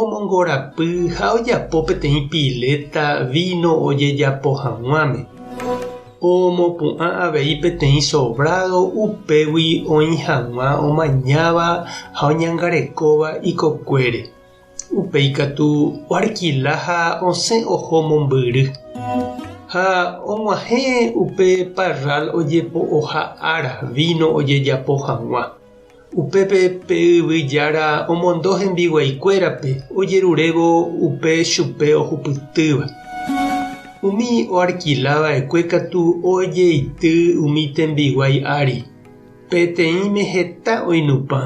Omongorapy ha ojapo peteĩ piléta víno ojejapo hag̃uáme. Omopu'ã avei peteĩ sobrádo upégui oĩ hag̃ua omañáva ha oñangarekóva ikokuére. Upéi katu oarkila ha osẽ oho mombyry. Ha og̃uahẽ upe parral ojepo'oha ára víno ojejapo hag̃ua. Upépe pe yvy jára omondo hembiguaikuérape ojerurévo upe chupe ohupytýva. Umi oarkila va'ekue katu ojeity umi tembiguái ári, peteĩme heta oinupã,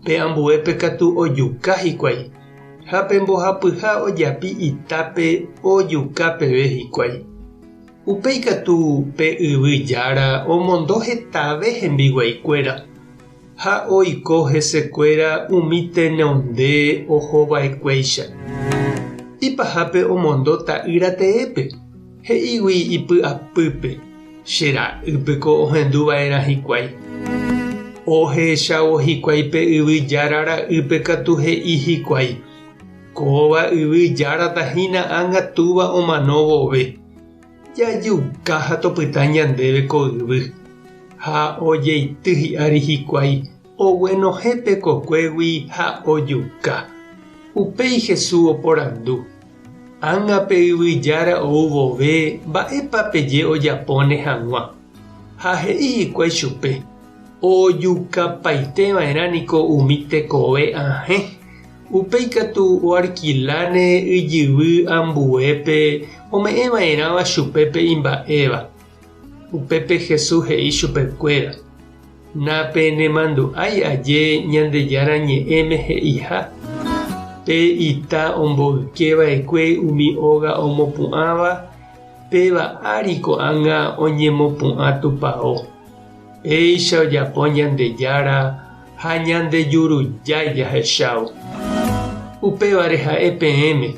pe ambuépe katu ojuka hikuái, ha pe mbohapyha ojapi itápe ojuka peve hikuái. Upéi katu pe yvy jára omondo hetave hembiguaikuéra, ha oiko hesekuéra umi tenonde ohova'ekuéicha. Ipahápe omondo ta'ýra teépe, he'ígui ipy'apýpe, Che ra'y peko ohendu va'erã hikuái. Ohechávo hikuái pe yvy jára ra'ýpe katu he'i hikuái, Kóva yvy járata hína ánga túva omano vove. Jajuka ha topyta ñandéve ko yvy, ha ojeity hi'ári hikuái oguenohẽ pekokuégui ha ojuka. Upéi Jesús oporandu, Ág̃a pe yvy jára ou vove mba'épa peje ojapóne hag̃ua? Ha he'i hikuái chupe, Ojukapaiteva'erã niko umi tekove ahẽ. Upe ikatu oarkiláne yjyvy ambuépe ome'ẽva'erãva chupe pe imba'éva. Upépe Jesús he'i chupekuéra, Napenemandu'ái aje Ñandejára Ñe'ẽme he'iha, Pe ita omboykeva'ekue umi óga omopu'ãva, péva ári ko'ág̃a oñemopu'ã tupao. Péicha ojapo Ñandejára, ha Ñandejurujái jahechávo. Upévare ha'e peẽme,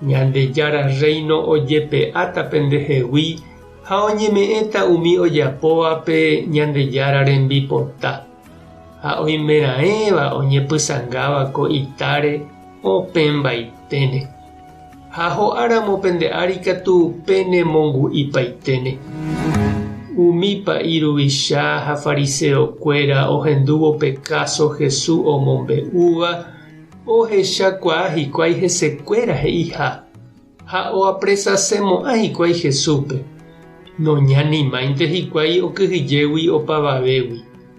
Ñandejára Rréino ojepe'áta pendehegui ha oñeme'ẽta umi ojapóva pe Ñandejára rembipota. Ha oimeraẽva oñepysangáva ko itáre opẽmbaiténe. Ha ho'áramo pende ári katu penemongu'ipaiténe. Umípa iruvicha ha fariseokuéra ohendúvo pe káso Hesu omombe'úva, ohechakuaa hikuái hesekuéra he'iha ha oapresasemo'ã hikuái Hesúpe, noñanimáinte hikuái okyhyjégui opavavégui.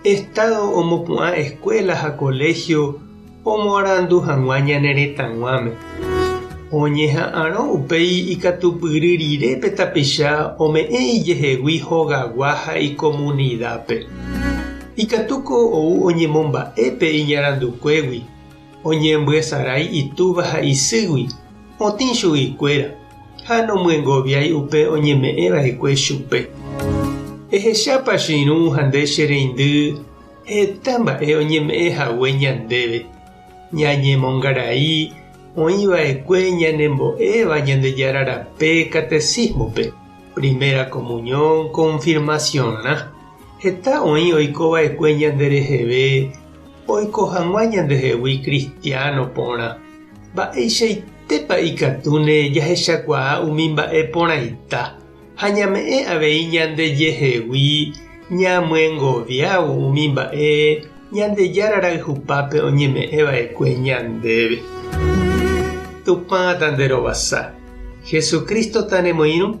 Estado omopu'ã escuela ha colegio omoarandu hag̃ua ñane retãguáme. Oñeha'ãrõ upéi ikatupyry rire pe tapicha ome'ẽ ijehegui hogagua ha icomunidad-pe. Ikatúko ou oñemomba'e pe iñarandukuégui. Oñembyesarái itúva ha isýgui otĩ chuguikuéra ha nomyengoviái upe oñeme'ẽ va'ekue chupe. Ehechápa che irũ ha nde che reindy heta mba'e oñeme'ẽ hague ñandéve, ñañemongarai oĩ va'ekue ñanembo'éva Ñandejára rape Catecismo-pe, Primera Comunión, Confirmación-rã. Heta oĩ oiko va'ekue ñande reheve oiko hag̃ua ñandehegui kristiáno porã. Mba'eichaitépa ikatúne jahechakuaa umi mba'e porãita ha ñame'ẽ avei ñandejehegui ñamyengoviávo umi mba'e Ñandejára rayhupápe oñeme'ẽ va'ekue ñandéve! Tupã tanderovasa, Jesucristo tanemoirũ.